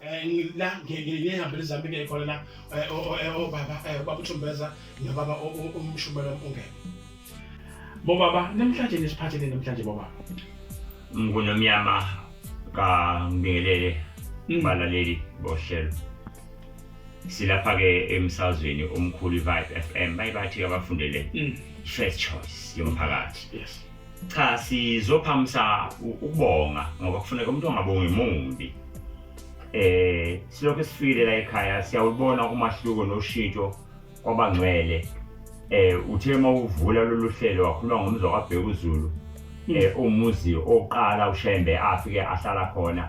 Eh, la ngiyihambela izami ke khona la eh, eh, obaba ubaba uthumbeza nobaba umshumela ungene bobaba namhlanje nisiphathele namhlanje bobaba mngunomyama kangelele mm. balaleli bohlelo silapha-ke emsazweni omkhulu i-vibe f m bayibathi-ke abafundele mm. first choice yomphakathi yes Cha sizophamisa ukubonga ngoba kufuneka umuntu ongabongi mumbi. Eh silokhu sifikile la ekhaya siyawubona umahluko noshintsho kwabangcwele. Eh uthe uma uvula lolu hlelo wakhuluma ngomzwa kaBheka uZulu eh umuzi oqala uShembe afike ahlala khona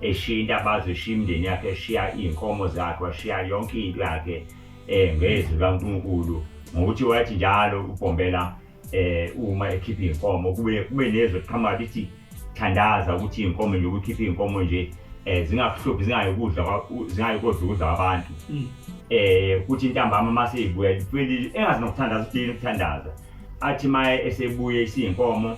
eshinta abazi ushiya imndeni yakhe eshiya iy'nkomo zakhe washiya yonke into yakhe um ngezwi likaNkulunkulu ngokuthi wathi njalo ubhombela eh uma ekhipha inkomo kube kube nezwe qhamuka lithi thandaza ukuthi inkomo nje ukukhipha inkomo nje eh zingakuhluphi zingayikudla zingayikudla ukudla kwabantu mm. eh kuthi intambama mase ibuya lipheli engazi nokuthandaza uthini ukuthandaza athi maye esebuye isinkomo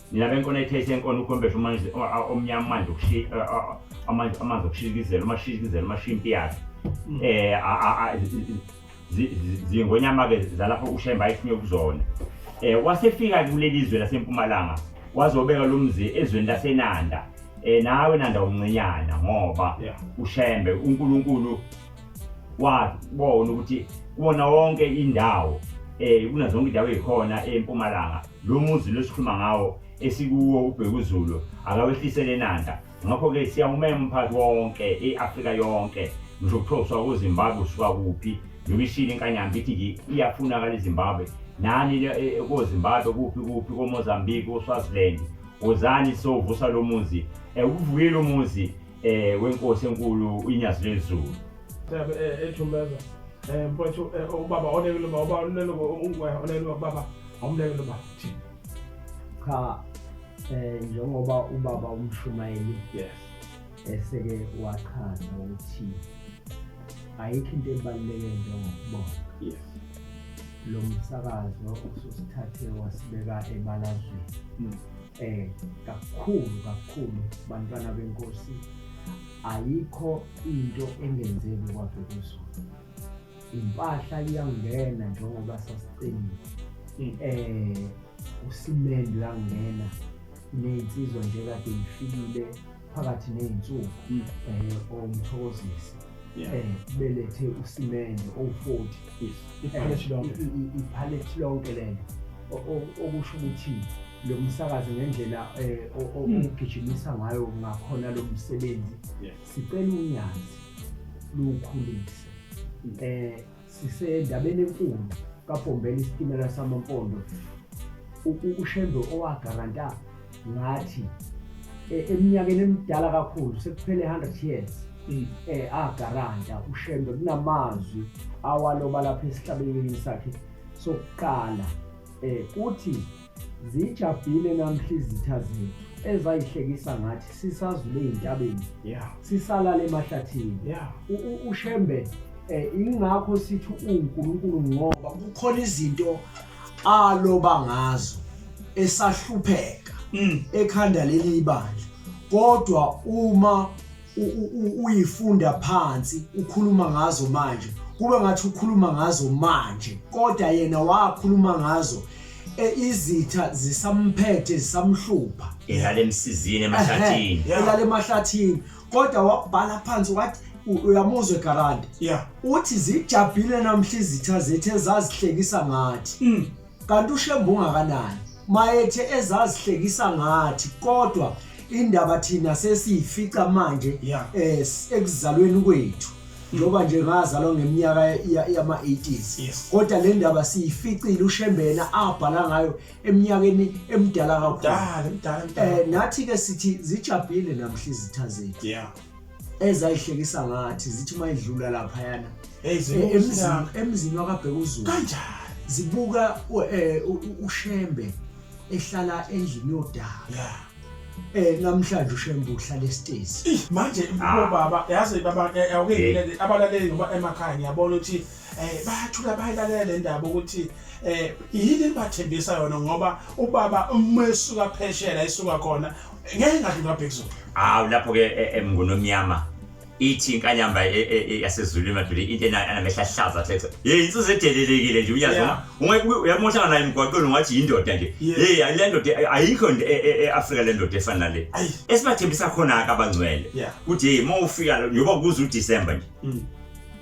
nina benkona ethayise enkona ukhombesha amanzi omnyama manje amanzi amanzi okushikizela umashikizela umashimpi yakhe mm. eh zingonyama ke zalapho ushemba ayifune kuzona eh wasefika kuleli zwe lasempumalanga wazobeka lo mzi ezweni lasenanda eh nawe nanda umncinyana ngoba ushembe uNkulunkulu wabona ukuthi kuwona wonke indawo eh kunazonke indawo ezikhona empumalanga Lo muzi lo esikhuluma ngawo esikuwo uBhekuzulu akawehlisele eNanda. Ngakho-ke siyawumema umphakathi wonke, i-Afrika yonke, ngisho kuthiwa usuka kuZimbabwe usuka kuphi, njengoba ishilo inkanyamba ithi nje iyafunakala iZimbabwe. Nani le- e- e- koZimbabwe kuphi kuphi koMozambique koSwaziland wozani sovusa lo muzi um ukuvukela umuzi um wenkosi enkulu inyazi lezulu Sebe eh, ethumeza eh mfowethu eh, ubaba onelwe baba onelwe ungwe onelwe baba Awumleke lo baba. Cha eh njengoba ubaba umshumayeli Yes. eseke wachaza ukuthi ayikho into ebaluleke njengokubonga. Yes. Lo msakazo ususithathe wasibeka ebalazweni. Mm. Eh kakhulu kakhulu bantwana benkosi ayikho into engenzeki kwabhekuzulu. impahla iyangena njengoba sasiqinile hmm. eh usimende uyangena nezinsizwa nje kade ifikile phakathi nezinsuku hmm. eh omthokozisi eh belethe usimende o40 iphalette lonke iphalette lonke lena okusho ukuthi lo msakazi ngendlela eh, hmm. ogijimisa ngayo ngakhona lo msebenzi Sicela unyazi luwukhulise. Eh sisendabeni enkulu kaBhombela isitimela samampondo. Ushembe owagaranta ngathi e, eminyakeni emidala kakhulu sekuphele 100 years mm. eh agaranta ushembe kunamazwi awaloba lapha esihlabeleni sakhe sokuqala eh kuthi Zijabhile namhla izitha zethu ezayihlekisa ngathi sisazule ezintabeni. Yeah. Sisalala emahlathini. Yeah. Ushembe eh ingakho sithi uNkulunkulu ngoba kukhona izinto aloba ngazo esahlupheka mm. ekhanda leli ibandla. Kodwa uma uyifunda phansi ukhuluma ngazo manje kube ngathi ukhuluma ngazo manje kodwa yena wakhuluma ngazo e, izitha zisamphethe zisamhlupha elale emsizini emahlathini elale emahlathini kodwa wabhala phansi wathi uyamuzwe garandi uthi zijabhile namhla izitha zethu ezazihlekisa ngathi mm. Kanti uShembu ungakanani? Mayethe ezazihlekisa ngathi kodwa indaba thina sesiyifica manje yeah. eh ekuzalweni kwethu njengoba nje ngazalwa ngeminyaka yama-80s yes. kodwa le ndaba siyificile ushembena abhala ngayo eminyakeni emdala kakhulu um nathi-ke sithi zijabhile namhla izitha zethu yeah. ezayihlekisa ngathi zithi uma idlula laphayana Hey, zibuka emzini uSinaka. emzini wakabheka uzulu kanjani zibuka u- eh, u- u- ushembe ehlala endlini yodaka ya um namhlanje ushembe uhlala esitezi Ih, manje bobaba yazi baba eh, awukeyile abalaleli ngoba emakhaya ngiyabona ukuthi eh bayathula bayilalela le ndaba ukuthi eh yini libathembisa yona ngoba ubaba uma esuka pheshela esuka khona ngeke ngathi ngabhekuzulu hawu lapho ke e, emnguni omnyama ithi inkanyamba e, e, yasezulwini madoda into anamehla ahlaza athe hey insizwa edelelekile nje uyazi ungeke uyamoshana naye emgwaqweni ungathi yindoda nje hey le ndoda ayikho e-afrika le ndoda efana nale esibathembisa khona-ke abangcwele ukuthi hey uma ufika njengoba kuze udisemba nje mm.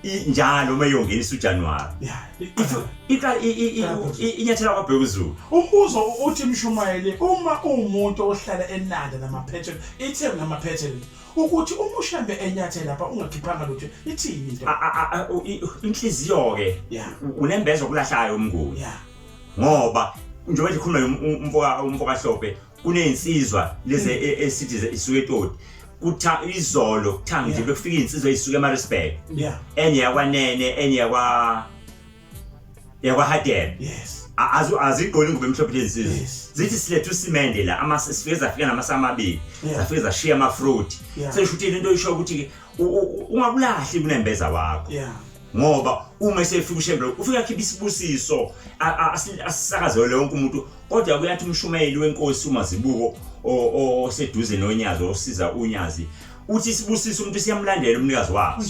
i- njalo uma iyongenisa ujanuwari Yeah, iqala. Iqala- i- i- i- i- inyathela kwabheka uzulu umbuzo uthi mshumayeli uma uwumuntu ohlala enanda namaphethelo ithemu namaphethelo ukuthi uma ushambe enyathela lapha ungakhiphanga lutho ithini into A- a- a- u- i- inhliziyo-ke Yeah. u- unembezo okulahlayo umnguni yeah ngoba njengoba nje khuluma umfokahlophe kunezinsizwa lezi e- e- esithi ze- isuke etoti kutha izolo kuthanga nje Yeah. bekufika izinsizwa ezisuka emarisburg yeah enye yakwanene enye yakwa yakwahadebe yes A- azu- azigqoli ingubo emhlophe lezi nsizwa Yes. zithi siletha usimende la ama- sifike zafika namasa amabili Yeah. zafike zashiya amafruit Yeah. sesho ukuthi into isho ukuthi-ke u- u- u- ungakulahli kunembeza wakho yeah ngoba uma esefika ushembelo ufike akhiphe isibusiso a- a- asi- asisakazele wonke umuntu kodwa kuyathi umshumayeli wenkosi umazibuko oseduze nonyazi osiza unyazi uthi isibusiso umuntu siyamlandela umnikazi wakho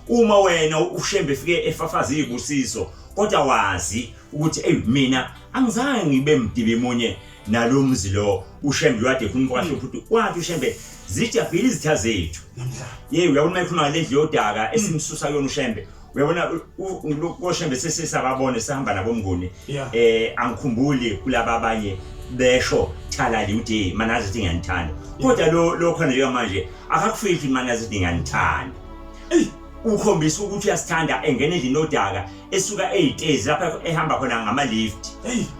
uma wena ushembe efike efafaza izibusiso kodwa wazi ukuthi ey mina angizange ngibe mdibi munye nalomzi lo ushembe wade khona kwasho futhi wathi ushembe zijabhile izitha zethu namhlanje yey uyabona mayikhuluma ngendle yodaka esimsusa kuyona ushembe uyabona koshembe sesisababone sihamba nabomnguni yeah. eh angikhumbuli kulaba abanye besho thalali uthi mana zithi ngiyanithanda kodwa lo lo khona leyo manje akakufihli mana zithi ngiyanithanda ukhombisa ukuthi uyasithanda engene endlini odaka esuka eyitezi lapha ehamba khona ngama-lift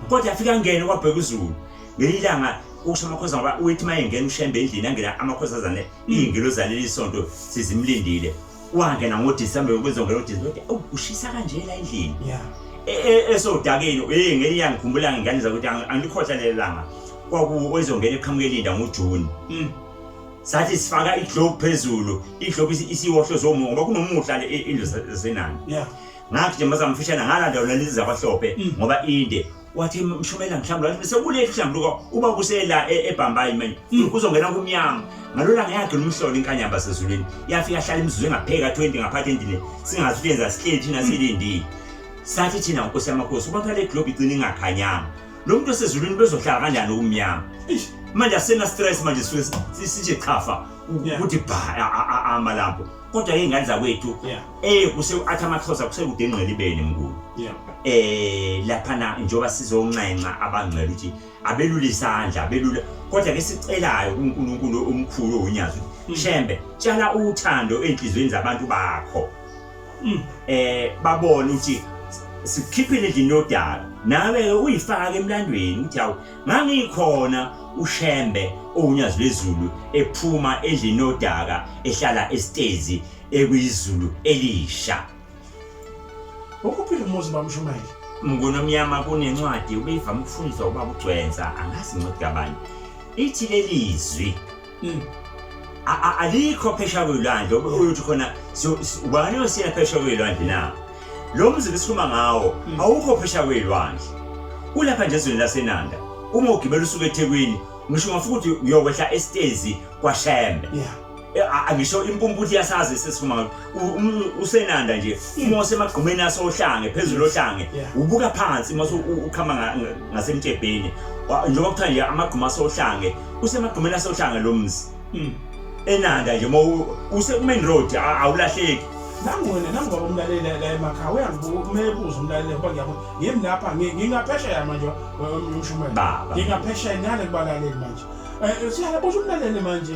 kodwa afika angene kwabheka uzulu ngelinye ilanga ukusho amakhoza ngoba uyithi uma engena ushembe endlini angena amakhosazane iyingilo zaleli sonto sizimlindile wangena ngoDisemba yokuzongena uDisemba ushisa kanje la endlini yeah e, e, esodakeni hey ngeke yangikhumbula ngingane zakuthi angikhohla lelanga kwaku ezongena eqhamukelinda ngoJune mm. sathi sifaka iglobe phezulu iglobe isiwohlo zomo ngoba kunomuhla le indlu zasenani yeah ngathi nje mazamfishana ngalanda lona lizabahlope mm. ngoba inde wathi mshumela ngihlambuluka wathi sekuleli hlambuluka uba kusela e, ebhambayi manje hmm. kuzongena kumnyango ngalola ngeyakhe lomhlolo inkanyamba sezulwini yafika hlala imizuzu engapheka 20 ngaphathi endlini singazi ukuthi yenza sihleli thina hmm. silindile sathi thina nkosi yamakhosi uba kale globe igcina ingakhanyanga lo muntu osezulwini bezohlala kanjani okumnyama manje asena stress manje sisije chafa ukuthi bha amalapho kodwa ke ingane zakwethu Eh kuse athi amaXhosa kusekude engqelibeni mkhulu. Yeah. Eh lapha na njoba sizonxenxa abangcela ukuthi abelule isandla abelule kodwa ke sicelayo kuNkulunkulu omkhulu onyazi mm. shembe tshala uthando enhlizweni zabantu bakho. Mm. Eh babone ukuthi sikhiphile endlini yodaba nawe ke uyifake emlandweni ukuthi awu ngangikhona ushembe owunyazi lezulu ephuma endlini yodaka ehlala esitezi ekuyizulu elisha ukuphila umuzi bamshumayeli mngunomnyama kunencwadi ubeyivama ukufundiswa ubaba ugcwensa angazi ncwadi kabani ithi leli zwi mm. alikho phesha kwelwandle ukuthi khona ubani osina phesha kwelwandle na lo mzi besikhuluma ngawo mm. awukho phesha kwelwandle ulapha nje ezweni lasenanda uma ugibela usuke ethekwini ngisho ngafuthi uyokwehla esitezi kwashembe yeah. Eh, angisho impumputhi yasazi sesifuma um, usenanda nje uma usemagqumeni asohlange phezulu ohlange ubuka phansi uma ukhama ngasemtshebheni njengoba kuthiwa nje amagquma asohlange usemagqumeni asohlange lo mzi hmm. enanda nje uma usekumain road awulahleki nangona nangoba umlalela la emakhaya uyangibuka uma ebuza umlalela ngoba ngiyabona yimi lapha ngingaphesheya manje umshumela ngingaphesheya ngale kubalaleli manje um eh, eh, siyala busho umlaleli manje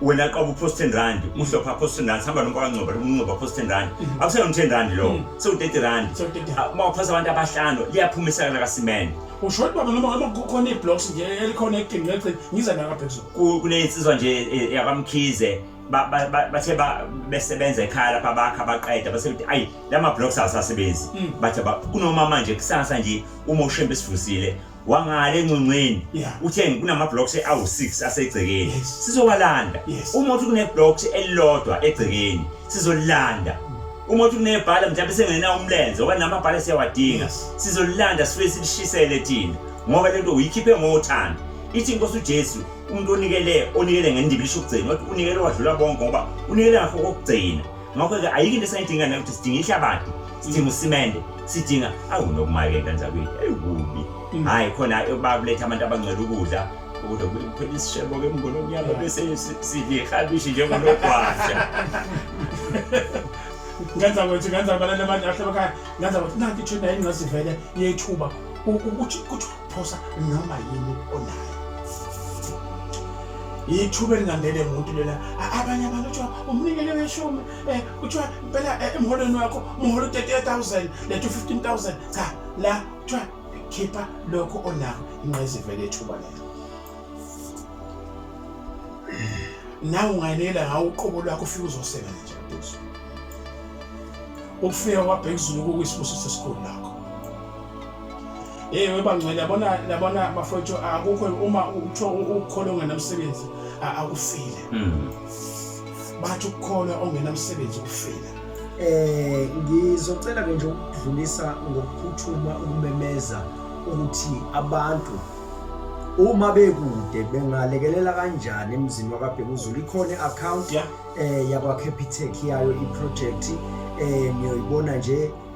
wena qaba uphost 10 rand uhlopha aphost 10 rand hamba nomfana ngcoba umncoba aphost 10 rand akusena 10 rand lo so 30 rand So 30. Ah, uma uphasa abantu abahlanu liyaphuma isakala kasimene usho ukuthi baba noma noma kukhona iblocks nje elikhona ekugcini ngegcini ngiza naka phezulu Ku- kunensizwa nje eh, yakwamkhize ba- ba- ba- bathe ba- besebenza ekhaya lapha bakha baqeda base kuthi ayi la ma-blocks awasasebenzi Mm. bathi aba- kunoma manje kusasa nje uma ushembe esivusile wangale encongceni Yeah. uthe kunama-blocks awu-six asegcekeni Yes. sizowalanda Yes. uma uthi kune-blocks elilodwa egcekeni sizolilanda uma uthi kunebhala mhlawumbe sengenawo umlenze oba namabhala siyawadinga Yes. sizolilanda sifike silishisele thina ngoba le nto uyikhiphe ngothando ithi inkosi ujesu umuntu onikele onikele ngendiba lisho ukugcina wathi unikele wadlula bonke ngoba unikele ngakho kokugcina ngakho-ke ayikho into esayidinga nayo ukuthi sidinga ihlabathi sidinga usimende sidinga awu nokumayeka njakwini ewubi mm. hhayi khona bakuletha abantu abangcela ukudla kodwa kuphela isishebo-ke mngolo omnyama bese sidlihabishi njengonogwasha ngenza kwethu ngenza abalala abantu ahlabakaya ngenza kwethu nanti ithuna yini ngasivele yethuba ukuthi phosa noma yini onayo ithuba elingangene muntu lena abanye abantu kuthiwa umnikele weshumi um kuthiwa impela eh, emholweni wakho umholo u-thirty-eight thousand lethu fifteen thousand cha la kuthiwa khipha lokho onako inqayizivele ethuba lelo nawe ungayelela ngawo uqobo lwakho ufike uzosebenza nje buzo ukufika kwabhekuzulu kukwisibusiso esikhulu lakho Hey webangcwele yabona yabona bafowethu akukho uma uthiwa ukukholwa ongenamsebenzi akufile. Hmm. Bathi ukukholwa ongenamsebenzi kufile. Eh ngizocela ke nje ukudlulisa ngokuphuthuma ukumemeza ukuthi abantu uma bekude bengalekelela kanjani emzini wakabhekuzulu ikhona i-akhawunti um eh, yakwa-capitec yayo iprojekthi um eh, niyoyibona nje